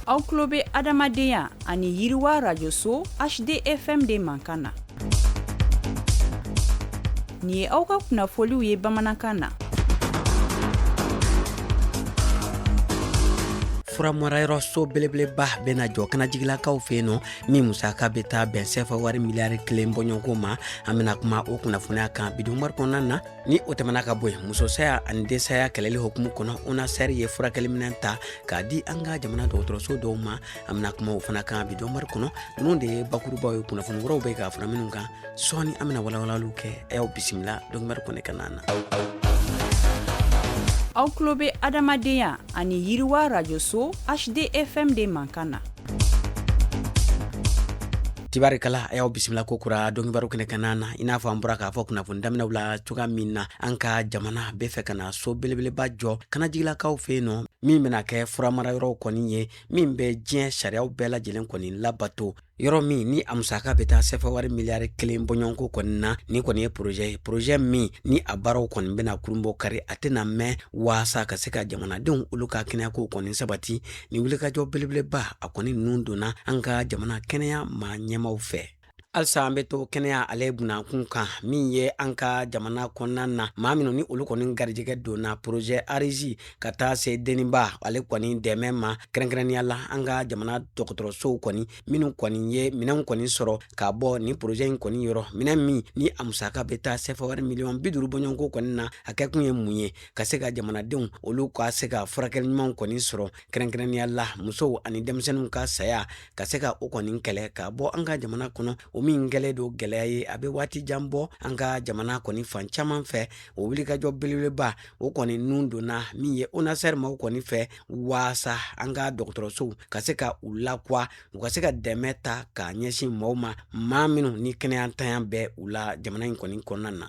aw tulo bɛ adamadenya ani yiriwa rajoso hdfm de mankan na nin ye aw ka kunnafoliw ye bamanankan na furamarayɔrɔ so belebeleba bɛna jɔ kanajigilakaw fɛ yen nɔ min musaka bɛ taa bɛn sefa wari miliyari kelen bɔɲɔgɔnko ma an bɛna kuma o kunnafoniya kan bi dɔnkibaru kɔnɔna na ni o tɛmɛna ka bɔ yen musosaya ani densaya kɛlɛli hukumu kɔnɔ onasɛri ye furakɛliminɛn ta k'a di an ka jamana dɔgɔtɔrɔso dɔw ma an bɛna kuma o fana kan bi dɔnkibaru kɔnɔ ninnu de ye bakurubaw ye kunnafoni wɛrɛw bɛ ka fara minnu kan sɔɔni an bɛna walawalaliw kɛ a y'aw bisimila dɔnkibaru kɛnɛ kanna na aw tulo bɛ adamadenya ani yiriwa rajoso hdfm de mankan na tabarikala a y'aw bisimila ko kura dɔnkibaru kɛnɛ kanna na i n'a fɔ an bɔra k'a fɔ kunnafoni daminɛw la cogoya min na an ka jamana bɛ fɛ ka na so belebeleba jɔ kanajigilakaw fɛ yen nɔ min bɛna kɛ furamarayɔrɔw kɔni ye min bɛ diɲɛ sariyaw bɛɛ lajɛlen kɔni labato yɔrɔ min ni a musaka bɛ taa sefa wari miliyari kelen bɔɲɔgɔnko kɔni na nin kɔni ye porozɛ ye porozɛ min ni a baaraw kɔni bɛna kurunbonkari a tɛna mɛɛn waasa ka se ka jamanadenw olu ka kɛnɛyakow kɔni sabati nin wulikajɔ belebeleba a kɔni nun donna an ka jamana kɛnɛya maa ɲɛmaaw fɛ halisa an bɛ to kɛnɛya ale bunda kun kan min ye an ka jamana kɔnɔna na maa minnu ni olu kɔni garijɛgɛ donna porozɛ arizi ka taa se den ni ba ale kɔni dɛmɛ ma kɛrɛnkɛrɛnnenya la an ka jamana dɔgɔtɔrɔsow kɔni minnu kɔni ye minɛnw kɔni sɔrɔ ka bɔ nin porozɛ in kɔni yɔrɔ minɛn min ni a musaka bɛ taa sefa wari miliyɔn bi duuru bɔɲɔgɔnko kɔni na a kɛkun ye mun ye ka se ka jamanadenw olu ka se ka furakɛli ɲumanw kɔni sɔrɔ kɛrɛnkɛrɛnnenya la musow ani denmisɛnninw ka saya ka se ka o kɔni kɛlɛ ka bɔ an ka jamana kɔnɔ o min kɛlen don gɛlɛya ye a bɛ waati jan bɔ an ka jamana kɔni fan caman fɛ o wulikajɔ belebeleba o kɔni nun donna min ye onasɛri maaw kɔni fɛ waasa an ka dɔgɔtɔrɔsow ka se ka u lakuwa u ka se ka dɛmɛ ta ka ɲɛsin mɔgɔw ma maa minnu ni kɛnɛyantanya bɛ u la jamana in kɔni kɔnɔna na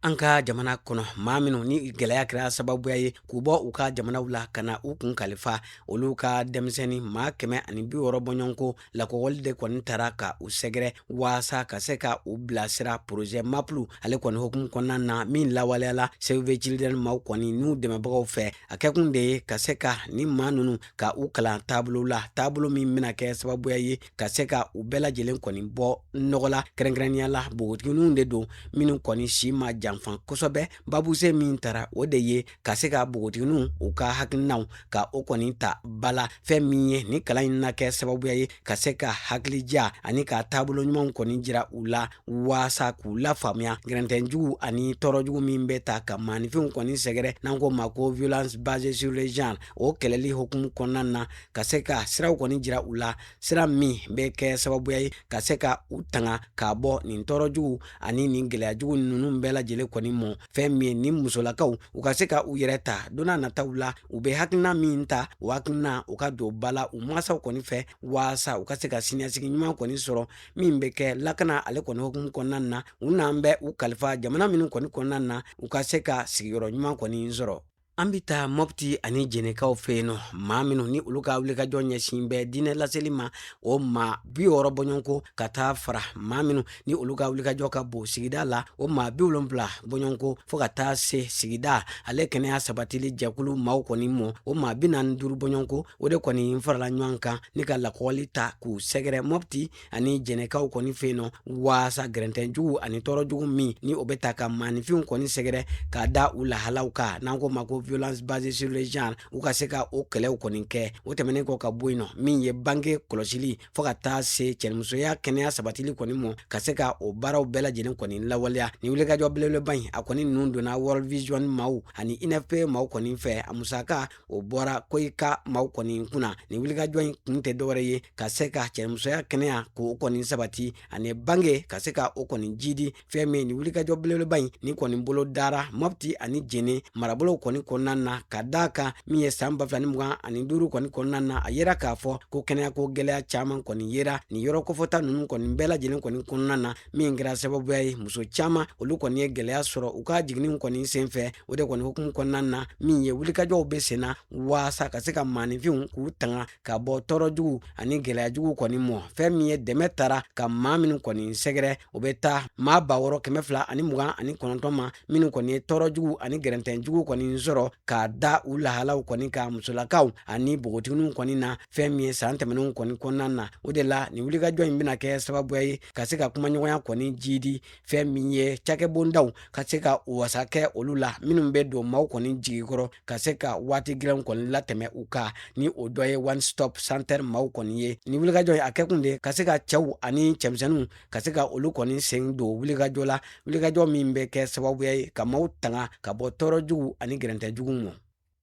an ka jamana kɔnɔ maa minnu ni gɛlɛya kɛra sababuya ye k'u bɔ u ka jamanaw la ka na u kun kalifa olu ka denmisɛnnin maa kɛmɛ ani bi wɔɔrɔ bɔɲɔgɔnko lakɔgɔli de kɔni taara ka u sɛgɛrɛ waasa ka se ka u bilasira porozɛ maplu ale kɔni hukumu kɔnɔna na min lawaleyala save the children maaw kɔni n'u dɛmɛbagaw fɛ a kɛkun de ye ka se ka nin maa ninnu ka u kalan taabolo la taabolo min bɛna kɛ sababuya ye ka se ka u bɛɛ lajɛlen kɔni bɔ nɔgɔ la kɛrɛnkɛrɛnnenya la bogotigininw de don minnu kɔni si ma janfan kosɛbɛ babuse min tara o de ye ka se ka bogotigininw u ka hakilinaw ka o kɔni ta ba la fɛn min ye ni kalan in na kɛ sababuya ye ka se ka hakilija ani ka taabolo ɲumanw kɔni jira u la waasa k'u lafaamuya gɛrɛntɛnjugu ani tɔɔrɔjugu min bɛ taa ka maanifinw kɔni sɛgɛrɛ n'an k'o ma ko violence basée sur le genre o kɛlɛli hukumu kɔnɔna na ka se ka siraw kɔni jira u la sira min bɛ kɛ sababuya ye ka se ka u tanga k'a bɔ nin tɔɔrɔ jugu ani nin gɛlɛya jugu ninnu bɛɛ lajɛlen kɔni mɔ fɛn min ye ni musolakaw u ka se ka u yɛrɛ ta don nataw la u bɛ hakilina min ta o hakilina u ka don ba la u mansaw kɔni fɛ waasa u ka se ka siniɲɛsigi ɲuman kɔni sɔrɔ min bɛ kɛ lakana ale kɔni hukumu kɔnɔna na u n'an bɛ u kalifa jamana minnu kɔni kɔnɔna na u ka se ka sigiyɔrɔ ɲuman kɔni sɔrɔ an bɛ taa mɔpti ani jɛnɛkaw fɛ yen nɔ maa minnu ni olu ka wulikajɔ ɲɛsin bɛ diinɛ laseli ma o maa bi wɔɔrɔ bɔɲɔgɔnko ka taa fara maa minnu ni olu ka wulikajɔ ka bon sigida la o maa bi wolonfila bɔɲɔgɔnko fo ka taa se sigida ale kɛnɛya sabatili jɛkulu maaw kɔni mɔ o maa bi naani duuru bɔɲɔgɔnko o de kɔni farala ɲɔgɔn kan ni ka lakɔgɔli taa k'u sɛgɛrɛ mɔpti ani jɛnɛkaw kɔni fɛ yen nɔ waasa gɛrɛntɛnjugu ani tɔɔrɔjugu min ni o bɛ taa ka maanifinw kɔni sɛgɛrɛ k'a da u lahalaw kan n'an k'o ma ko violence basée sur le genre u ka se ka o kɛlɛw kɔni kɛ o tɛmɛnen kɔ ka bɔ yen nɔ min ye bange kɔlɔsili fo ka taa se cɛnimusoya kɛnɛya sabatili kɔni mɔ ka se ka o baaraw bɛɛ lajɛlen kɔni lawaleya ni wulikajɔ belebeleba in a kɔni ninnu donna world vision maaw ani unfpa maaw kɔni fɛ a musaka o bɔra koica maaw kɔni kun na nin wulikajɔ in kun tɛ dɔwɛrɛ ye ka se ka cɛnimusoya kɛnɛya k'o kɔni sabati ani bange ka se ka o kɔni jiidi fɛn min nin wulikajɔ belebeleba in ni kɔni bolo dara mɔpti ani jɛnɛ marabolow kɔni kɔnɔna na k'a da a kan min ye san ba fila ni mugan ani duuru kɔni kɔnɔna na a yera k'a fɔ ko kɛnɛyako gɛlɛya caman kɔni yera nin yɔrɔ kofɔta ninnu kɔni bɛɛ lajɛlen kɔni kɔnɔna na min kɛra sababuya ye muso caman olu kɔni ye gɛlɛya sɔrɔ u ka jiginniw kɔni sen fɛ o de kɔni hukumu kɔnɔna na min ye wulikajɔw bɛ sen na waasa ka se ka maaninfinw k'u tanga ka bɔ tɔɔrɔ jugu ani gɛlɛya jugu kɔni mɔ fɛn min ye dɛmɛ taara ka maa minnu kɔni sɛgɛrɛ o bɛ taa maa ba wɔɔrɔ kɛmɛ fila ani mugan ani kɔnɔntɔn ma minnu kɔni ye tɔɔrɔ jugu ani gɛrɛntɛn jugu kɔni sɔrɔ k'a da u lahalaw kɔni kan musolakaw ani bogotigininw kɔni na fɛn min ye san tɛmɛnenw kɔni kɔnɔna na o de la nin wulikajɔ in bɛna kɛ sababuya ye ka se ka kumaɲɔgɔnya kɔni jiidi fɛn min ye cakɛbondaw ka se ka wasa kɛ olu la minnu bɛ don maaw kɔni jigi kɔrɔ ka se ka waati gɛlɛnw kɔni latɛmɛ u kan ni o dɔ ye one stop center maaw kɔni ye nin wulikajɔ in a kɛkun de ka se ka cɛw ani cɛmisɛnninw ka se ka olu kɔni sen don wulikajɔ la wulikajɔ min bɛ kɛ sababuya ye ka maaw tanga ka bɔ tɔɔrɔ jugu ani gɛrɛntɛ jugu ma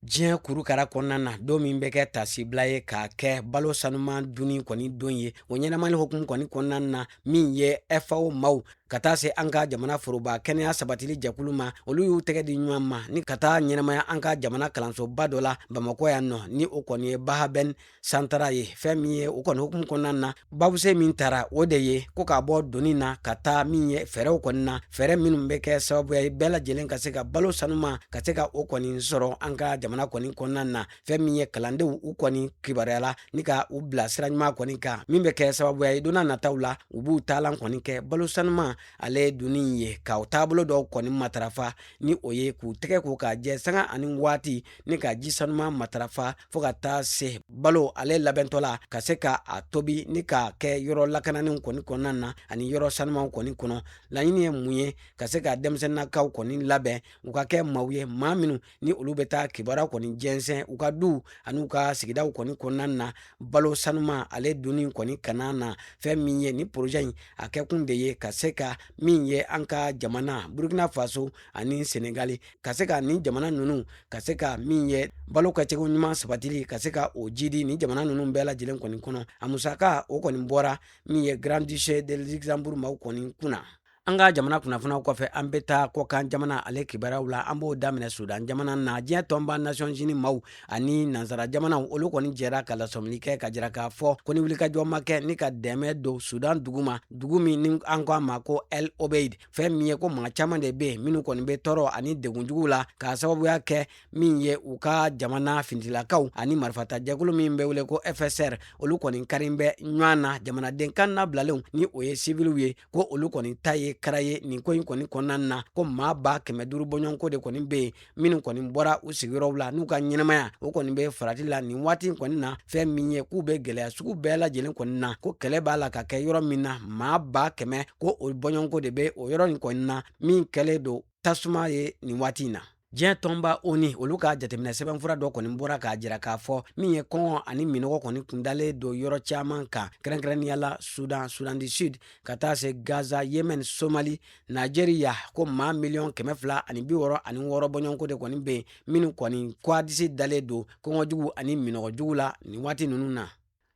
diɲɛ kurukara kɔnɔna na don min bɛ kɛ tasibila ye k'a kɛ balo sanuman dunni kɔni don ye o ɲɛnamani hokumu kɔni kɔnɔna na min ye fao maw ka taa se an ka jamana foroba kɛnɛya sabatili jɛkulu ma olu y'u tɛgɛ di ɲɔgɔn ma ni ka taa ɲɛnamaya an ka jamana kalansoba dɔ la bamakɔ yan nɔ ni o kɔni ye bahaben santara ye fɛn min ye o kɔni hukumu kɔnɔna na babuse min tara o de ye ko k'a bɔ doni na ka taa min ye fɛɛrɛw kɔni na fɛɛrɛ minnu bɛ kɛ sababuya ye bɛɛ lajɛlen ka se ka balo sanuman ka se ka o kɔni sɔrɔ an ka jamana kɔni kɔnɔna na fɛn min ye kalandenw u kɔni kibaruyala ni ka u bila sira ɲuman kɔni kan min bɛ kɛ sababuya ye donna nataw la u b'u taalan kɔni kɛ balo sanuman ale dunni ye ka u taabolo dɔw kɔni matarafa ni o ye k'u tɛgɛ ko k'a jɛ sanga ani waati ni ka ji sanuman matarafa fo ka taa se balo ale labɛntɔ la ka se ka a tobi ni k'a kɛ yɔrɔ lakanani kɔni kɔnɔna na ani yɔrɔ sanuman kɔni kɔnɔ laɲini ye mun ye ka se ka denmisɛnninakaw kɔni labɛn u ka kɛ maw ye maa minnu ni olu bɛ taa kibaruya kɔni jɛnsɛn u ka duw ani u ka sigidaw kɔni kɔnɔna na balo sanuman ale dunni kɔni kana na fɛn min ye nin porozɛ in a kɛkun de ye ka se ka min ye an ka jamana burkina faso ani senegali ka se ka nin jamana ninnu ka se ka min ye balo kɛcogo ɲuman sabatili ka se ka o jidi nin jamana ninnu bɛɛ lajɛlen kɔni kɔnɔ a musaka o kɔni bɔra min ye grand duché de luxembourg maw kɔni kunna an ka jamana kunnafoniw kɔfɛ an bɛ taa kɔkan jamana ale kibaruyaw la an b'o daminɛ sudan jamana na diɲɛ tɔnba nations unis maw ani nansara jamanaw olu kɔni jɛra ka lasɔmili kɛ k'a jira k'a fɔ ko ni wulikajɔ ma kɛ ni ka dɛmɛ don sudan dugu ma dugu min ni an ko a ma ko el obeid fɛn min ye ko maa caman de bɛ yen minnu kɔni bɛ tɔɔrɔ ani degunjugu la k'a sababuya kɛ min ye u ka jamana fintilakaw ani marifata jɛkulu min bɛ wele ko fsr olu kɔni karilen bɛ ɲɔgɔn na jamanaden kannabilalenw ni o ye siviliw ye ko olu kɔni ta ye kara ye nin ko in kɔni kɔnɔna na ko maa ba kɛmɛ duuru bɔɲɔgɔnko de kɔni bɛ yen minnu kɔni bɔra u sigiyɔrɔw la n'u ka ɲɛnamaya o kɔni bɛ farati la nin waati kɔni na fɛn min ye k'u bɛ gɛlɛya sugu bɛɛ lajɛlen kɔni na ko kɛlɛ b'a la ka kɛ yɔrɔ min na maa ba kɛmɛ ko o bɔɲɔgɔnko de bɛ o yɔrɔ in kɔni na min kɛlen don tasuma ye nin waati in na diɲɛ tɔnba onu olu ka jateminɛ sɛbɛnfura dɔ kɔni bɔra k'a jira k'a fɔ min ye kɔngɔ ani minɔgɔ kɔni kundalen don yɔrɔ caman kan kɛrɛnkɛrɛnnenya la sudan sudan du sud ka taa se gaza yemen somali Nizeriya ko maa miliyɔn kɛmɛ fila ani bi wɔɔrɔ ani wɔɔrɔ bɔɲɔgɔnko de kɔni bɛ yen minnu kɔni ko a disi dalen don kɔngɔjugu ani minɔgɔjugu la nin waati ninnu na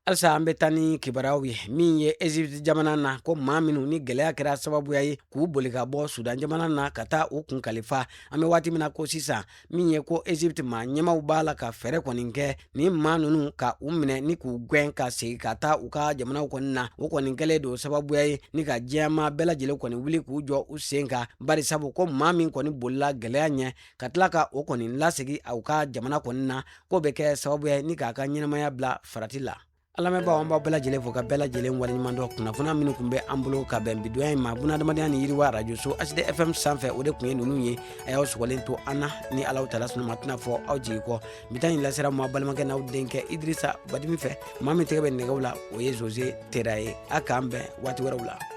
halisa an bɛ taa ni kibaruyaw ye min ye ezipti jamana na ko maa minnu ni gɛlɛya kɛra sababuya ye k'u boli ka bɔ sudan jamana na ka taa u kun kalifa an bɛ waati min na ko sisan min ye ko egypte maa ɲɛmaw b'a la ka fɛɛrɛ kɔni kɛ ni maa nunu ka u minɛ ni k'u gwɛn ka segi ka taa u ka jamanaw kɔni na o kɔni kɛlen don sababuya ye ni ka diɲɛ maa bɛɛ lajɛlen kɔni wuli k'u jɔ u sen kan bari sabu ko maa min kɔni bolila gwɛlɛya ɲɛ ka tila ka o kɔni lasegi u ka jamana kɔni na k'o be kɛ sababuya ye ni k'a ka ɲɛnamaya bila farati la an lamɛnbaw an b'aw bɛɛ lajɛlen fo ka bɛɛ lajɛlen waleɲumandɔn kunnafoniya minnu kun bɛ an bolo ka bɛn bidonya in ma bunadamadenya ni yiriwa arajoso hd fm sanfɛ o de kun ye ninnu ye a y'aw sɔgɔlen to an na ni alahu tala sɔnn'a ma tɛna fɔ aw jigi kɔ bi ta in lasera ma balimakɛ n'aw denkɛ idrisa badimi fɛ maa min tɛgɛ bɛ nɛgɛw la o ye zoze tera ye a k'an bɛn waati wɛrɛw la